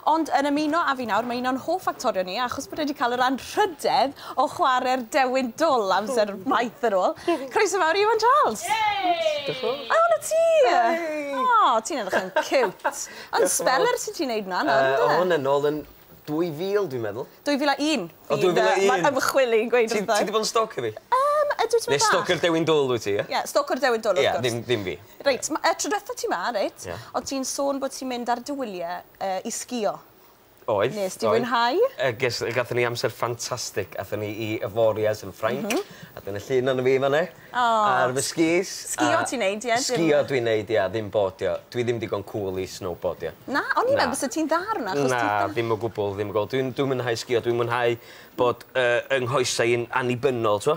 Ond yn ymuno â fi nawr, mae un o'n hoff actorion i, achos bod e 'di cael yr anrhydedd o chware'r dewin dwl amser maith yn ôl. Croeso mawr i Iwan Charles! Diolch. O, 'na ti! O, ti'n edrych yn ciwt. Ond speller sy ti'n neud 'na nawr, ynde? O, hwn yn ôl yn 2000, dwi'n meddwl. 2001? O, 2001! Ma'r ymchwil i'n gweud wrthai. Ti 'di bod yn stalcio fi? Yym, ydw, tipyn bach. Neu stalcio'r dewin dwl wyt ti, ie? Ie, stalcio'r dewin dwl, wrth gwrs. Ie, ddim fi. Reit, y tro diwetha ti ma, reit, oedd ti'n sôn bod ti'n mynd ar dy wyliau i sgio. Oedd. Nes di fwynhau? Ges, gathon ni amser ffantastig. Athon ni i Avoriaz yn Ffrainc. A dyna llun ohono fi fan 'na. O! Ar fy skis. Sgio ti'n neud ie? Sgio dwi'n neud ia, ddim bodio. Dwi ddim digon cŵl i snowboardio. Na? O'n i'n meddwl byse ti'n dda ar hwnna achos ti'n... Na, ddim o gwbwl, ddim o gwbwl. Dwi'n dwi'n mwynhau sgio, dwi'n mwynhau bod yy 'y nghoesau i'n annibynnol, t'mo'?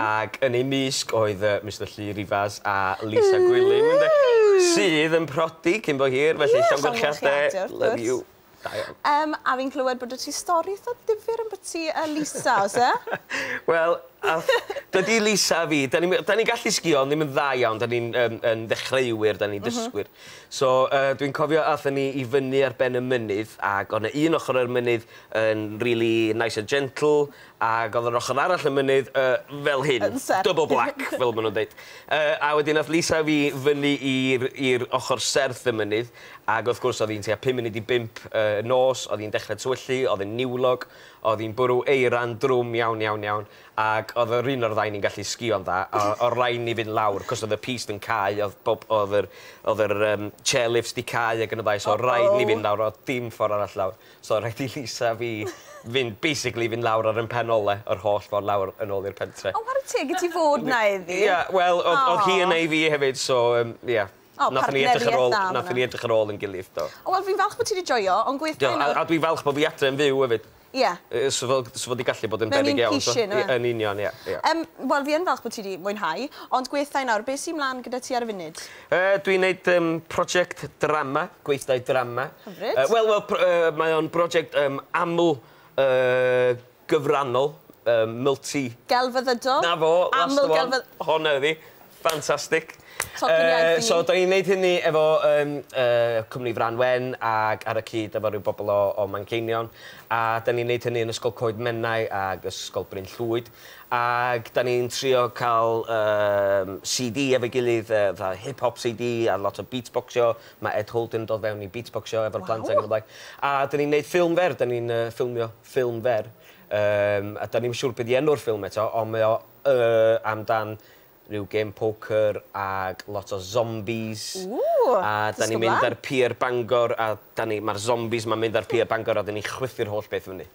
Ac yn eu mysg oedd yy Mister Llu Rivas a Lisa Gwilym ynde? Sydd yn prodi cyn bo hir felly llongyfarchiade love you. Da iawn. Yym a fi'n clywed bod 'da ti stori itha difyr ambytu yy Lisa o's e? Wel ath dydi Lisa a fi 'dan ni'm yy 'dan ni'n gallu sgïo ond ddim yn dda iawn 'dan ni'n yym yn ddechreuwyr 'dan ni'n dysgwyr so yy dwi'n cofio athon ni i fyny ar ben y mynydd ag o' 'na un ochor o'r mynydd yn rili nice and gentle Ag o'dd yr ochor arall y mynydd yy fel hyn. Yn serth. Double black fel ma' nw'n deud. Yy a wedyn nath Lisa a fi fyny i'r i'r ochor serth y mynydd ag wrth gwrs o'dd 'i'n tua pum munud i bump y nos, o'dd 'i'n dechre tywyllu, o'dd e'n niwlog, o'dd 'i'n bwrw eira'n drwm iawn iawn iawn ag o'dd yr un o'r ddau ni'n gallu sgïo'n dda a o' raid ni fynd lawr 'c'os o'dd y pist yn cau o'dd bob o'dd yr o'dd yr yym chair lifts 'di cau ag yn y blaen so o' raid ni fynd lawr o'dd dim ffor arall lawr. So rhaid i Lisa a fi fynd basically fynd lawr ar 'yn pen ole yr holl ffordd lawr yn ôl i'r pentre. O ware teg i ti fod 'na iddi. Ia wel o'dd o'dd hi yna i fi hefyd so yym ia. O partnerieth dda fan 'na. Nathon ni edrych ar ôl nathon ni edrych ar ôl 'yn gilydd do. O wel fi'n falch bo' ti 'di joio on' gwed gwaith da. Do a a dwi falch bo' fi adre yn fyw efyd. Ia. Yy so fel so fo 'di gallu bod yn beryg iawn so. Mewn un cushion. Yn union ia ia. Yym wel fi yn falch bo' ti 'di mwynhau ond gwed 'tha i nawr be' sy mlan gyda ti ar y funud? Yy dwi'n neud yym project drama, gweithdai drama. Hyfryd. Yy wel wel pro- yy mae o'n broject yym aml yy gyfrannol yym multi... Gelfyddydol? 'Na fo, that's the one. Aml-gelfydd-... Honna ydi. Fantastic. Tocyn iaith i mi. Yy so 'dan ni'n neud hynny efo yym yy cwmni Frân Wen ag ar y cyd efo ryw bobol o o Manceinion a 'dan ni'n neud hynny yn Ysgol Coed Menai ag Ysgol Bryn Llwyd. Ac dan ni'n trio cael yym CD efo'i gilydd yy fatha hip hop CD a lot o beatboxio, ma' Ed Holden yn dod fewn i beatboxio efo'r plant ag yn y blaen. A dan ni'n neud ffilm fer, dan ni'n yy ffilmio ffilm fer yym a dan ni'm siŵr be' 'di enw'r ffilm eto ond mae o yy amdan ryw gêm poker ag lot o zombies... Ww! ...a dan ni'n mynd ar pier Bangor a dan ni ma'r zombies 'ma'n mynd ar pier Bangor a dan ni'n chwythu'r holl beth fyny.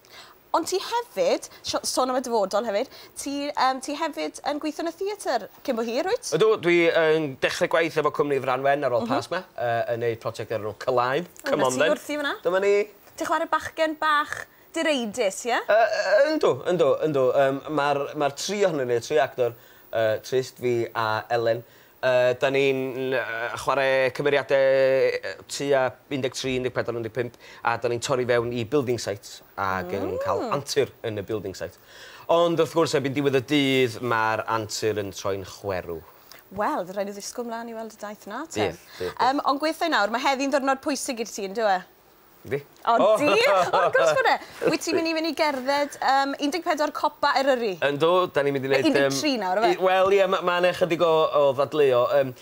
Ond ti hefyd, sho- sôn am y dyfodol hefyd, ti yym ti hefyd yn gweithio yn y theatr cyn bo hir, wyt? Ydw, dwi yn dechre gwaith efo cwmni Franwen ar ôl Pasg 'ma, yy yn neud project o'r enw Cylaen, come on then. O, 'na ti wrthi fyn 'na. Dyma ni. Ti'n chware bachgen bach direidus, ie? Yy yy yndw, yndw, yndw. Yym ma'r ma'r tri ohonyn ni, y tri actor, yy Trist, fi a Elen, Ydyn ni'n chwarae cymeriadau tua 13, 14, 15 a ydyn ni'n torri fewn i building sites ac yn cael antur yn y building site. Ond wrth gwrs, erbyn diwedd y dydd, mae'r antur yn troi'n chwerw. Wel, fydd rhaid ni ddisgwyl mlaen i weld y daith 'na te. Bydd, bydd, bydd. Ond gweithio i nawr, mae heddi'n ddiwrnod pwysig i ti, yn dyw e? Yndi. O yndi? O wrth gwrs bod e! Wyt ti'n mynd i fynd i gerdded yym 14 copa Eryri? Yndw, 'dan ni'n mynd i neud yym... Neu 13 nawr yfe? Wel ie ma' ma' 'ne chydig o o ddadleuo yym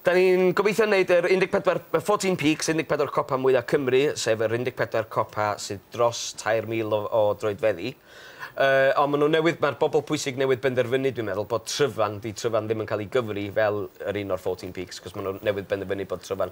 'dan ni'n gobeithio neud yr 14 y fourteen peaks 14 copa mwya Cymru sef yr 14 copa sy dros 3000 o o droedfeddi yy on' ma' nw newydd ma'r bobol pwysig newydd benderfynu dwi'n meddwl bod Tryfan 'di Tryfan ddim yn ca'l 'i gyfri fel yr un o'r fourteen peaks 'c'os ma' nw newydd benderfynu bod Tryfan